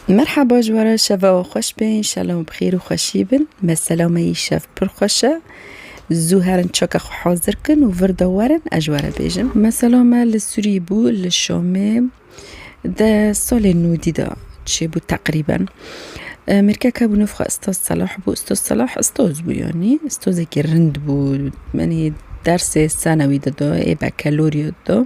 Merhaba ji wara şeva we xweş be înşallah bi xêr û xweşî bin. Mesela me yî şev pir xweş e. Zû herin çoka xwe hazir kin û vir de werin ez ji were bêjim. Mesela me li Sûrî bû li Şamê de salê nû dî de çêbû teqrîben. Mêrkeke bû nûf xwe Istoz Selah bû. Istoz Selah istoz bû yanî. Istozekî rind bû. Menî dersê senewî dida ê bekelorîya dida.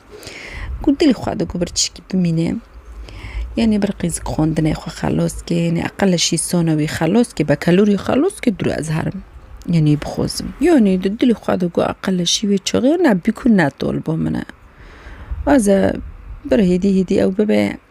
Ku dilê xwe digo bir tişkî bimîne. Ya nê bir qîz xwendinê xwe xelos ke nê eqelişî şî sona wî xelos ke bekelûrî xelos ke dûre ez herim. Ya nê bixwazim. Ya nê di dilê xwe digo eqelişî wê çaxê ne bikû ne tol bo min e. Aze bir hêdî hêdî ew bibe.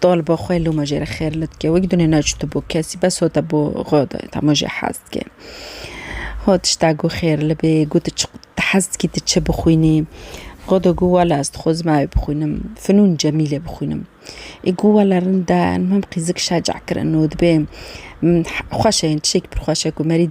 Taliba xwe loma jê re xêr li dike. Wek dune neçûtibû kesî bes hate bo xwe de tama jê hez dike. Xwe tişta got xêr li bê, got tu çi tu hez dikî tu çi bixwînî? Xwe de got wela ez dixwazim ew bixwînim, Finûn Cemîlê bixwînim. Ê got wela rind e, mem qîzik şeca kirine û dibê xweş e, yên tiştekî pir xweş e ku merî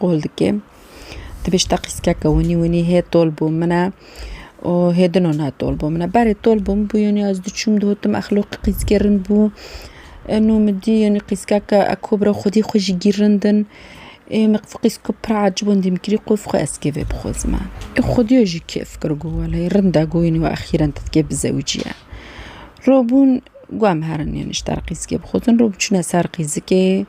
Qol dike. Di pêş teqîzkeke winî winî hê tol bû min e û hê din o ne tol bû min e. Berê tol bû min bû yanî ez diçûm dihotim exloqî qîzkê rind bû. Îno min dî yanî qîzkeke eko bira xwedî xwe jî gîr rind in. Ê min qîz qîzke pir ecib in dîm kirî qof xwe ez kêfê bixwazim e. Ê xwedîya jî kêf kir got wele rind e got yanî we exîren te dikê bizewicîye. Robûn got em herin yanî ji te re qîzkê bixwazin. Robûn çûne ser qîzikê.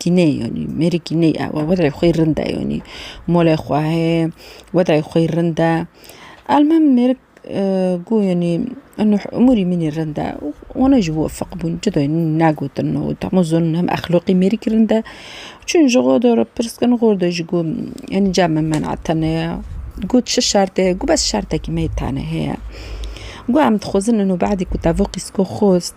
Kîney yanî mêrî kîney e ew wedirê xwe yî rind e yanî molê xwe heye wedirê xwe yî rind e. Elmim mêrik ku yanî umurî min î rind e û wana ji bo feq bûn cida yanî nagotin û dema zanîn hem exloqî mêrikî rind e. Çûn ji xwe re pirs kirin xwe de jî ku yanî cama me na tune ye got çi şert heye got bes şertekî me yê tane heye. Got em dixwazin ino badî ku tevok îsko xwest.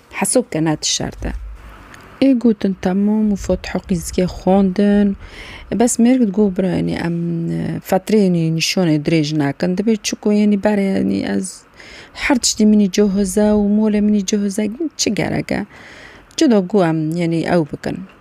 Hesab ke ne ti şert e. Ê gotin temam û fot heqîzgeh xwendin. Bes mêr got bira yanî em fetrê yanî nîşanê dirêj nakin. Dibê çiku yanî berê yanî ez her tiştî min î cohize û molê min î cohize çi gerek e. Cida ku em yanî ew bikin.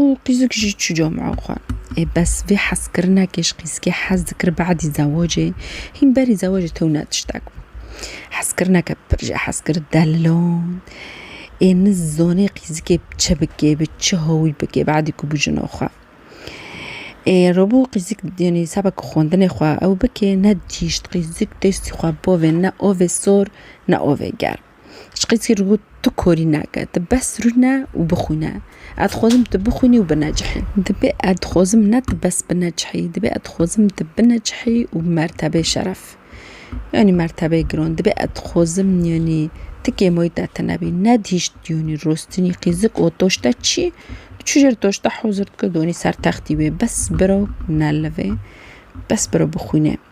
Û qîzik jî çû camea xwe. Ê bes vê hezkirinekê ji qîzikê hez dikir bedî zewacê, hîn berî zewacê tewne tiştek bû. Hezkirineke pir jê hez kir delilond. Ê nizanê qîzikê bi çi bike, bi çi hawî bike bedî ku bû jina xwe. Ê rabû qîzik yanî sebek xwendinê xwe ew bike, ne dîşt qîzik destî xwe bavê ne avê sor ne avê germ. Ji qîskî re got, Tu korî nake, tu bes rûne û bixwîne. Ez dixwazim tu bixwînî û binecihî. Divê ez dixwazim ne tu bes binecihî, divê ez dixwazim tu binecihî û bi mertebeyê şeref, yanî mertebeyê giran. Divê ez dixwazim yanî ti kêmoyî te tune bî. Nedihîşt yanî rostinî qîzik û doşte çî, tu çû jêr doşte hozir dike, danî ser textî wê. Bes biro nelivê, bes biro bixwîne.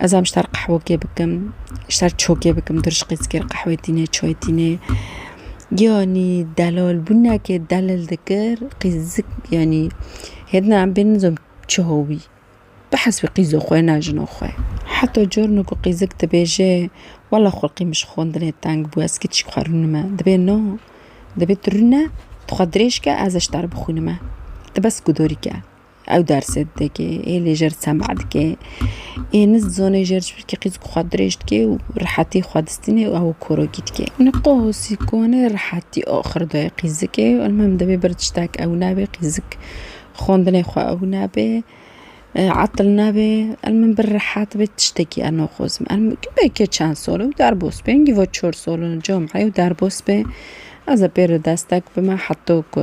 Ez em ji ter qehwekê bikim, ji ter çokê bikim, tu rişqê zikê li qehwê tîne, çay tîne. Yanî delal bûn neke delil dikir qîzik yanî hêdina em bê nidim çi howî. Bihesibî qîzo xwe na jina xwe. Heta carna ku qîzik dibêje wela xulqê min ji xwendinê teng bû ez kî tişt xwe rûnime. Dibê na, dibê tu rûne tu xwe dirêj ke ez ji ter bixwînime. Tu bes guhdarî ke. Ew dersê didike, ê lê jer sema dike, ê nizdizane jer ji ber kî qîzk xwe dirêj dike û rihetî xwe distîne û ew korokî dike. Niqosî konê rihetî axir dayê qîzikê. Elmim divê bir tiştek ew nebe qîzik xwendinê xwe ew nebe, etil nebe. Elmim bir rihet be tiştekî ez naxwazim. Elmim weke çend sal in derbas be hingî va çar sal in cameyê û derbas be. Ez ê pê re destek bime heta ku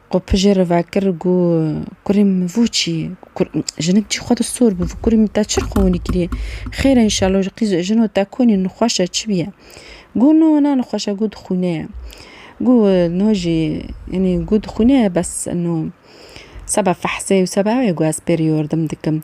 Xwe pije re vekir û got, Kurê min vû çi? Jinik cî xwe dir sor bû. Vû kurê min te çi xewinî kirî? Xêr e înşello ji qîz jino te konî nixweş e çi bûye? Got, No na nixweş e, got xwîne ye. Got, No jî înî got xwîne ye bes no seba fehsê û seba ew ye got ez pêrî yordim dikim.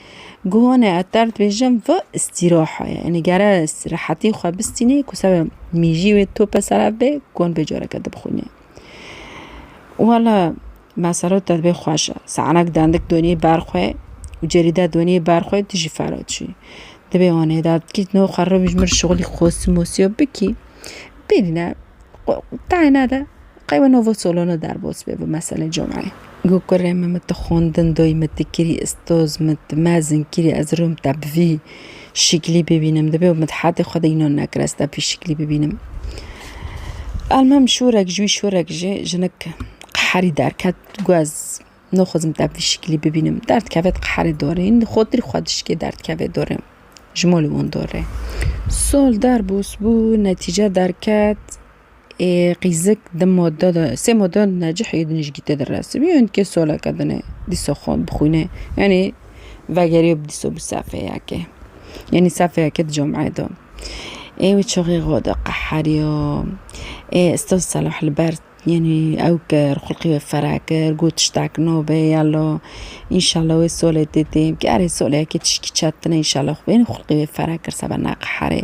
Guhane eter dibêjin vi îstîraha ye. Yanî gere rehetî xwe bistînê ku seba mîjî wê tope ser ev bê guhan bê careke dibixwînê. Wala me sero te dibê xweş e. Sanek dendik donî ber xwe û cerîde donî ber xwe tu jî fera çûyî. Dibê anê de bikî no xwe rewîj mir şixulî xosû mosûya bikî. Bêrîne tayê nede Qey we novo solone derbos bê bi meselê comeyê. Got ku rê me min ti xwendin doyî min ti kirî istoz min ti mezin kirî ez rûm te bi vî şiklî bibînim dibê û min hetê xwe de înan nekir ez te bi vî şiklî bibînim. Elmem şûrek ji wî şûrek jî jinik qeherî derket got ez naxwazim te bi vî şiklî bibînim. Derdkeve diqeherê dorê îndi xotirî xwe dişikê derdkevê dorê ji malê wan dorê. Sol derbos bû netîce derket. Ê qîzik di moda de sê moda necih ê dinijgî tê de resibî û dikê soleke din ê dîsa xwe bixwîne yanî vegeriyo bi dîsa bi sefeyekê yanî sefeyekê di cameyê de ê wî çaxê xwe de qeheriyo ê ustaz Selah li ber yanî ew kir xulqê wê fere kir got tiştek nabe yala înşela wê solê tê tê bike erê soleyekê tişkî çet tune înşela xwê xulqê wê fere kir sebe neqeherê.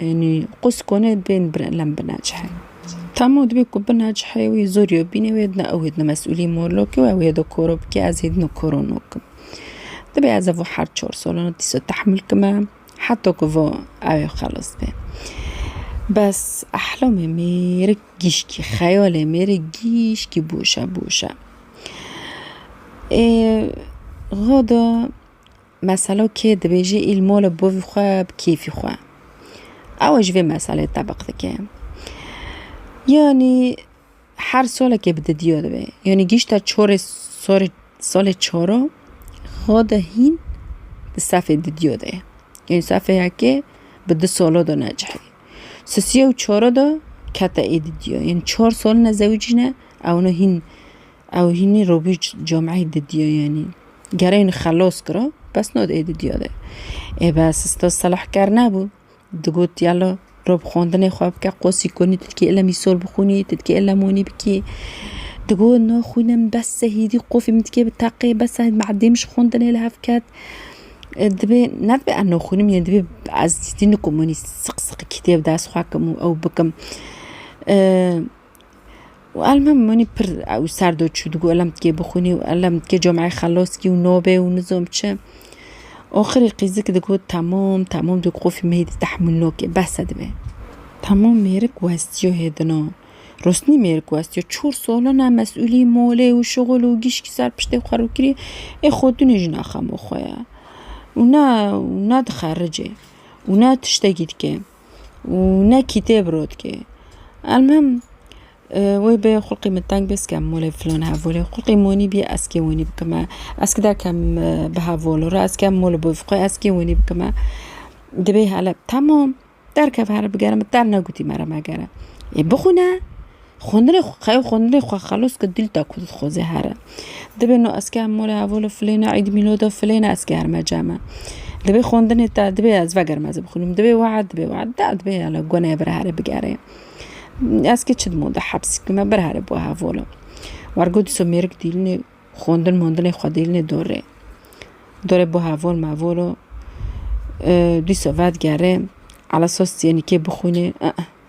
Yanî qûs konê bên bire lem binecihê. Tamo dibê ku binecihê wî zor yo bînê wê dina ew ê dina mesûlî morlokê û ew ê do koro bikê ez ê dino koro nokim. Dibê ez evo her çor solana dîsa tehmil kime heta ku vo ew ê xelas bê. Bes ehlamê mêrik gîşkî xeyalê mêrik gîşkî boşe boşe. Ê gada Meselo kê dibêje îl mol e bo vî xwe bi kêfî xwe. Ew ji vê meselê tebiq dike. Yanî her solekê bi didiyo dibe. Yanî gîşta çorê sorê solê çoro xwe de hîn di sefê didiyo de ye. Yanî sefê yekê bi di solo de necihê. Sisiya û çoro de kete ê didiyo. Yanî çor sol ne zewicî ne ewna hîn Ew hînî robîç cameyî didiya yanî gereyne xelos kira bes nod ê didiya de. Ê bes ista Selah ker nebû. Digot yala rob xwendinê xwe bike qosî konî tu dikê île mîsol bixwînî tu dikê île monî bikî. Digot na xwîne min bes e hîdî qofî min dikê bi teqê bes e madîm ji xwendinê li hev ket. Dibê ne dibê ez nexwînim yê dibê ez hîdî nikom wanî siq siq kitêb dest xwe kim û ew bikim. Elmî min pir ew ser do çû digo elem dikê bixwînî û elem dikê cameyê xelos kî û nobê û nizom çi. Axirî qîzik digot temam temam digot qufî me hêdî tehmûl nake bes e divê. Temam mêrik westiyo hêdina. Rosnî mêrik westiyo çar salan e mesulî malê û şixul û gîşkî ser piştê xwe rû kirî ê xwe tunê jî ne xema xwe ye û ne û ne dixe ricê û ne tiştekî dike. û ne kîtêb rotke. Elmuhim wê bê xulqê min teng bê ez kêm molê filan hevolê xulqê monî bî ez kê wenî bikime ez kida kem bi hevolo re ez kêm mol bi xwe ez kê wenî bikime dibê hele tamam derkeve here bigere min te ne gotî me re megere ê bixwîne Xwendinê xwe qe xwendinê xwe xelos ke dîl ta ku dixweze here. Dibê no ez kêm mole hevo li filêna îd mîloda filêna ez kêrime ceme. Dibê xwendinê te dibê ez vegerim ez bixwînim dibê wehe dibê wehe da dibê hele goneyê bira here bigerê. Ez kê çi dimo de hepsî kime bir here bo hevo li. War got dîsa mêrik dîlinê xwendin mondinê xwe dîlinê dorê. Dorê bo hevol mevol o dîsa vedigerê ala sos diyê nikê bixwînê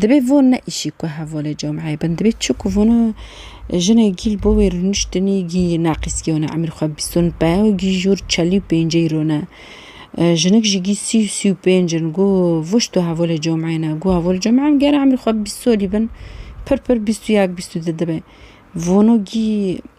Dibê von ne îşî ku hevalê cameyê bin, dibê çi ku von û jinê gîl bo wê rûniştinî gî naqîskî one, emîr xwe bîst û peyw gî jûr çelî û pêncî îro ne. Jinik jî gî sî û sî û pênc in. Go vişt û hevalê cameyê ne. Go hevalê cameyê em gera emîr xwe bîst solî bin, pir pir bîst û yek bîst û di dibe. Vono gî.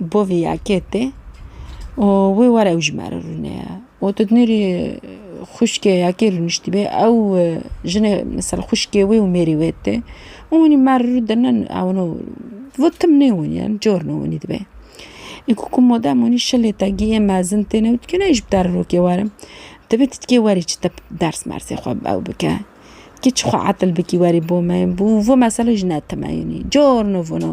Bo vî yekê tê û wê were ew ji me re rûne ye û tu dinêrî xwişkê yekê rûniştîbê ew jinê misal xwişkê wê û mêrê wê tê û hûnî me re rû dine ewno bo tim nêwin ye cor nêwinî dibe ê ku ku modern wînî şilê te giyê mezin têne û dikê nayê ji bi te re rokê were divê tu dikê werî çi te ders mersê xwe bi ew bike dikê çi xwe etil bikî werî bo me bo vê meselê jî ne time yûnî cor nivin o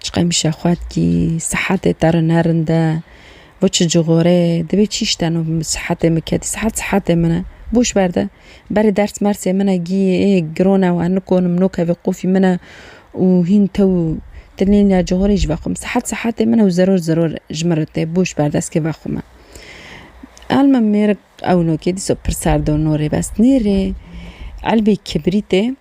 Çi qemişe xwe dikî, sihetê te re ne rind e, bo çi cixorê, divê çi îş teno sihetê min kedî, sihet sihetê min e, boş ver de, berê ders mersê min e gî ê giro ne wan nikonim nokevê qofî min e û hîn te û tilînîya cixorê ji vexwe min, sihet sihetê min e û zeror zeror ji min re tê, boş ver deskê vexwe min. Elma mêrik ewnokê dîsa pir serdor norê bes nêrê elbê kibrîtê.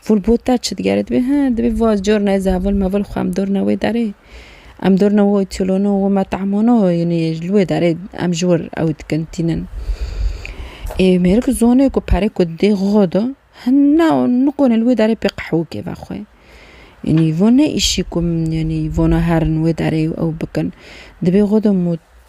Fûl bo te çi digere? Dibê he, dibê va cornayê zevil mevil xwe em dorna wê derê. Em dorna wê otelona wê metamona yanî li wê derê em ji wir ew dikin tînin. Ê mêrik zonê ku perê ku didê xwe de hina nikonê li wê derê pê qehwikê vexwe. Yanî van ne îşî ku yanî vana herin wê derê û ew bikin. Dibê xwe de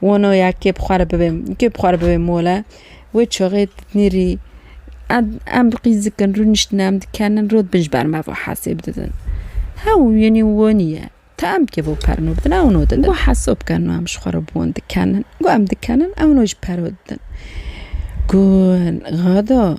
Wano ya kê bi xwe re bibê, kê bi xwe re bibê mole, wê çaxê nêrî em em qîz dikin, rûniştin em dikenin rû bin ji ber me ve hesê bididin. Hew yanî wanî ye. Ti em kê bo perno bidin ew no didin. Got hesab ke no em ji xwe re bi wan dikenin. Got em dikenin ew no jî pero didin. Got gado.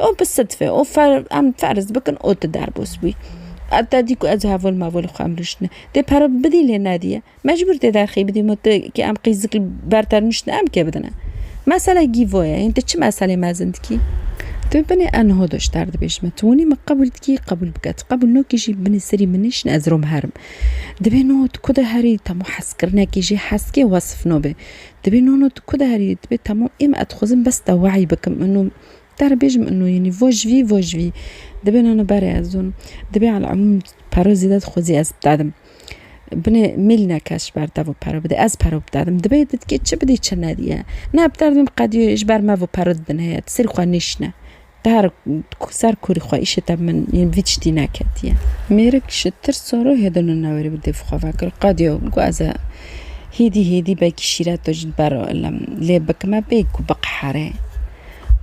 Ew bi sidfe û em ferz bikin û tu derbas bûyî. Ev te dî ku ez heval mevalê xwe em rûştine. Dê pere bidî lê nediye. Mecbûr dê derxî bidî ma tu kê em qîzikî ber te rûştine em kê bidine. Mesele gîvo ye. Hîn tu çi meselê mezin dikî? Tu binê em niha doşter dibêjin me. Tu winî min qebûl dikî qebûl bike. Tu qebûl nakî jî binê serî min nêşîne ez rom herim. Dibê niha tu ku de herî temû hezkirinekê jê hezkê wesif nabe. Dibê niha tu ku de herî dibê temû ê min ez dixwazim bes te wayî bikim. Te re bêjim ino yenî vojvî vojvî dibin ino berê ez ûn dibê eleumûm pero zêde dixwazî ez bidedim. Binê mêlîna kes ji ber te vê pero bidê ez pero bidedim dibê didikê çi bidî çi nedîye. Na bi derdê min qedî ji ber me vê pero didin heye ti serî xwe nêşine. Te her ser kûrî xwe îşê te bi min yên vî tiştî neketiye. Mêrik ji tirsa rûhê din û newerî bi dêv xwe vekir qedî got ez e. Hêdî hêdî belkî şîret to jî di ber lam lê bikime bê ku biqhere.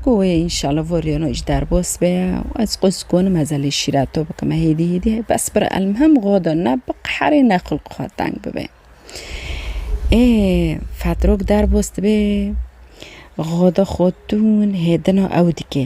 Ku wê înşala voriyano ji derbas be û ez qûz konim heza lê şîret to bikime hêdî hêdî hê bes bir elmhem xwe de ne biqherê ne xulq xwe teng bibe. Ê fetrok derbas dibe xwe de xwe tûn hêdina ew dike.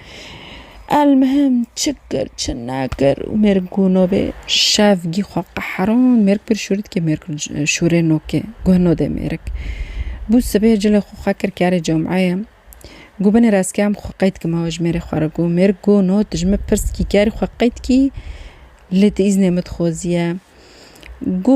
El mihim çi kir çi nekir û mêrg ku no bê şev gî xwe qehrand mêrg pir şûrî dike mêrg şûrê no ke guh no dê mêrg. Bû sibê cilê xwe xwe kir kerê cumeyê ku binê reskê em xwe qey dikim hewa ji mêrê xwe re ku mêrg ku no tu ji min pirs dikî kerî xwe qey dikî lê tu îznê min dixwezî ye ku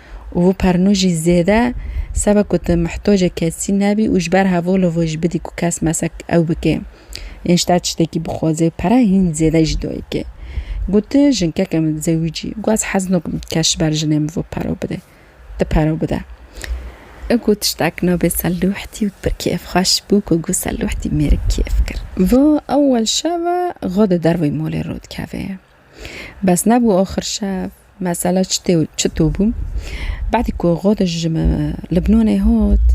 û vû pernu jî zêde sebe ku tu mihtocê kesî nebî û ji ber hev û livo jî bidî ku kes mesek ew bike yên ji te tiştekî bixwaze û pere hîn zêde jî dayike. Got tu jinkeke mitzewijî û ez hez nakim kes ji ber jinê min vê pere bide. Tu pere bide. Ew got tiştek navê Selûhtî û pir kêfxweş bû ku got Selûhtî mêrik kêf kir. Vû ewel şeve xwe di derveyê malê rû dikeve. Bes nebû axir şev mesela çitê û çitû bû. Badî ku Godiş ji Libnanê hat,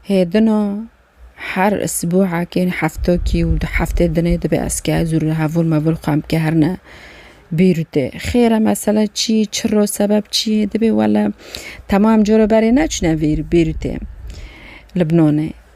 hê din a her sibûhekê heftekî û du heftê dinê dibe ez ke ez û hevûr mevûr xwe em kehirine Bêrûtê. Xêr e mesela çi ye, çiro sebeb çi ye dibê wele temam coro berê neçûne Bêrûtê, Libnanê.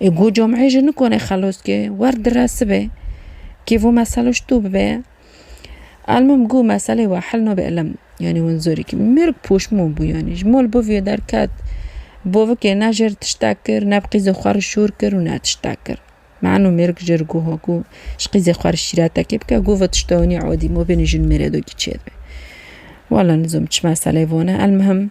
Ê go com'ê ji nikone xelos ke wer dire sibe kê vo meselo ji to bibe. Elmim go meselê we hel nabe ilim. Yanî win zorî kî mêrg poşmon bû yanî ji mal boviyê derket. Bovikê ne jêr tiştek kir ne bi qîzê xwe re şor kir û ne tiştek kir. Meno mêrg jêr goha ku ji qîzê xwe re şîretekê bike go ve tiştewanî adî mabênê jin mêrê de kî çêdibe. Wela nizom çi meseleyê vane elmihim.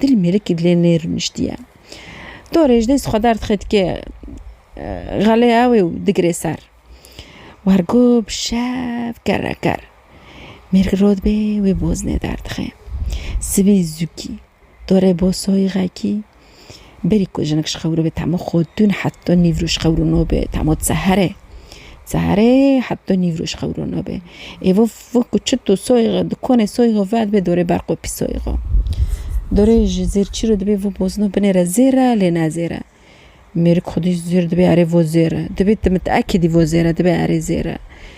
Dilê mêrikî dilê nê rûniştî ye. To rêjdê ji xwe derdixê dikê xelê ewê û digirê ser. Wergo bi şev kerre kerr. Mêrik rû dibê wê boznê derdixê. Sibî zûkî dorê bosoyî xekî Berî ku jinik ji xewrû bi temo xwe dûn heft do nîvrû ji xewrû no bi temo dize here. Dize here heft do nîvrû ji xewrû no bi. Ê vû vû ku çit û soyê xwe di konê soyê xwe ve dibe dorê ber qopî soyê xwe. Dorê ji zêr çîro dibê vû bozino binê re zêr e lê ne zêr e. Mêrik xwedî zêr dibê erê vû zêr e. Dibê tu miteekîdî vû zêr e dibê erê zêr e.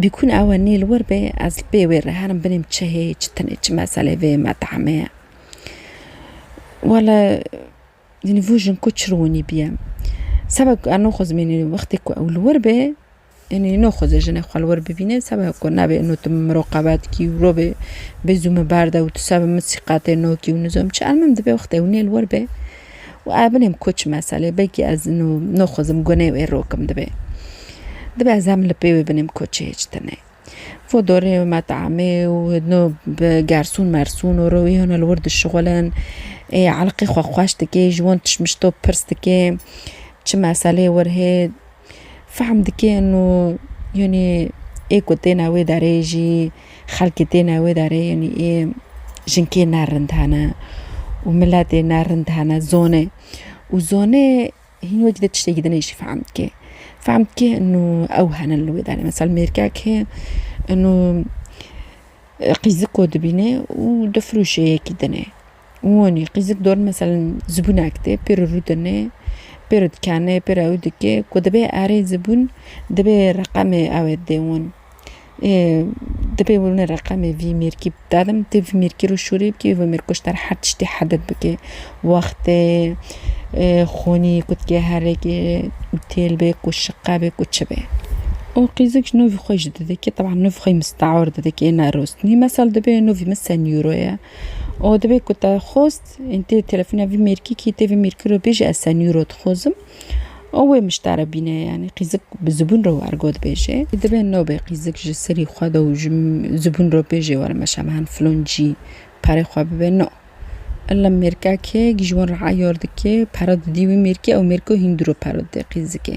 Bîkûn ew e nî li wir bê, ez li pê wê re herim binêm çi hê, çi tune, çi meselê vê met'emê ye. Wele yanî vû jin ku çi li winî bîye. Seba ku eno xwe zimînî wextê ku ew li wir bê, yanî no xwezê jinê xwe li wir bibîne seba ku nabê eno tu min miroqebet kî û rûbê bê zû min berde û tu seba min sîqetê no kî û nizom çi. Elmim divê wextê ew nê li wir bê. Û ev binêm koç meselê belkî ez nû noxwezim gunê wê rokim dibê. Dibê ez hem li pê wê binêm koçê hêç tune. Fo dorê û metamê û nû bi gersûn mersûn û rûyê hûn li wir dişixulin. Ê elqê xwe xweş dikê, ji wan tişt mişt top pirs dikê. Çi meselê wir hê. Fehm dike û yanî ê ku têne wê derê jî xelkê têne wê derê yanî ê jinkê ne rind hene û miletê ne rind hene zonê û zonê hîn wekî di tiştekî dinê jî fehm dike. Fehm dike û ew hene li wê derê misal mêrkek hê qîziko dibîne û difirûşê yekî dinê. Wanî qîzik dor meselen zibûnek tê pêro rûdine pêro dikene pêro ew dike ku dibe erê zibûn dibe reqemê ew ê dê wan ê dibe wina reqemê vî mêrkî dadin tê vî mêrkî ro şûrê bikê vî mêrko ji dera her tiştî hedet bike wextê xûnî ku dike herêkê û têl bê ku şiqe bê ku çi bê û qîzik ji nû vî xwe jî didike taban nû vî xwe yî misteor didike nêrostinî mesel dibe nû vî min senîro ye Û divê ku te xwest yên tê telefona vî mêrkîkî tê vî mêrkî re bêjî ez senî ro dixwezim û wê miştare bîne yanî qîzik bi zibûn re wergo dibêje. Divê nobê qîzik ji serî xwe de û ji zibûn re bêjê were meşa min hen filon cî perê xwe bibe no. Illa mêrkakê ji wan re eyar dike pere didî wî mêrkî ew mêrko hîn dûr re pere dide qîzikê.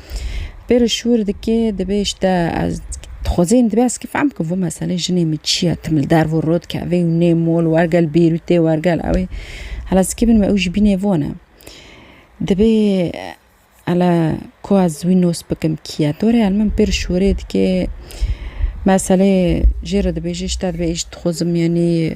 Pê re şûr dike dibê işte ez dixwazin dibê ez kifam ku vê meselê jinê min çi ye tim li derve û rot kevê û nê mol wergel bêrûtê wergel ewê hela zikê min ew jî bînê vana. Dibê hela ku ez wî nos bikim kî ye to rê min pê re şûrê dike meselê jê re dibêje işte dibê îş dixwazim yanî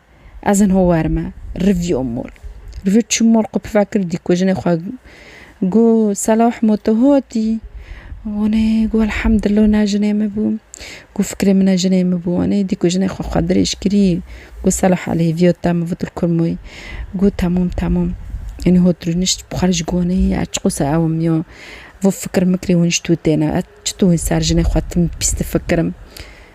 Ez in ho wer me. Rivî o mol. Rivî çi mol xwe piva kir dî ku jinê xwe got Selah mo tu hatî? Wanê got Elhamdullah na jinê min bû. Got fikirê min e jinê min bû. Wanê dî ku jinê xwe xwe dirêj kirî got Selah elê hêviya te min vir kur moyî. Got temam temam. Înî hot rûnişt bi xwe re jî got ez çiqas ewim ya vê fikir mikirê hûnişt wê têne ez çitû wê ser jinê xwe tim pîs difikirim.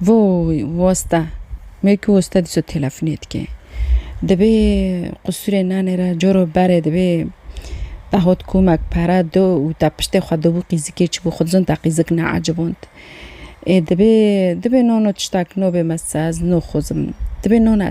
Voy wasta wekî wasta dîsa telefonê dike. Dibê qusûrê nanê re coro berê dibê vehot komek pere do û te piştê xwe dibû qîzikê çibû xwe dizan te qîzik neeciband. Ê dibê dibê nano tiştak no bê me sez no xozim dibê no ne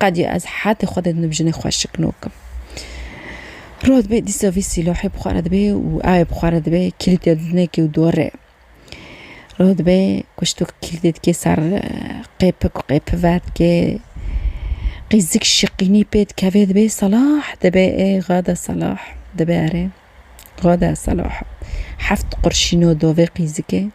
Qedî ez hetê Xwedê dinim jinê xwe şikno kim. Roj dibe dîsa vî sîlohê bi xwe re dibe û ewê bi xwe re dibe kîlîtê didine kê û dorê. Roj dibe kuştok kîlîtê dikê ser qêpik û qêpi ver dikê. Qîzik şiqînî pê dikeve dibe Selah dibe ê Xwede Selah dibe erê. Xwede Selah heft qurşîno dovê qîzikê.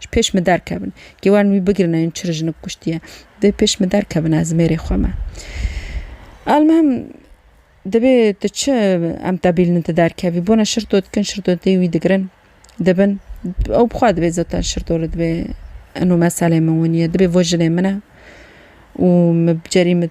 Ji pêş min derkevin. Kê werin wî bigirin em çi rijinik kuştiye. Dibê pêş min derkevin ez mêrê xwe me. Elmuhim dibê tu çi em tebîlinin tu derkevî. Bona şirto dikin şirto tê wî digirin. Dibin. Ew bixwe dibê zaten şirto li dibê eno meselê min winiye. Dibê vo jinê min e û min bi cerî min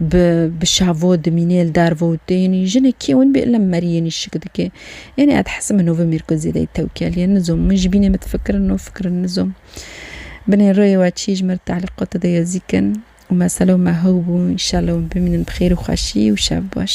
Bi bi şavo dimînê li dar vo û tê yenî jinê kê win bê lem merî yenî şik dike. Yenî ez dihesib min nûvê mîrko zêdeyî tewkel ye nizom min ji bînê min difikirin no fikirin nizom. Binê rûyê we çî ji min re telîqata de yezîk in û mesele û me hew bû înşella win bimînin bi xêr û xweşî û şev baş.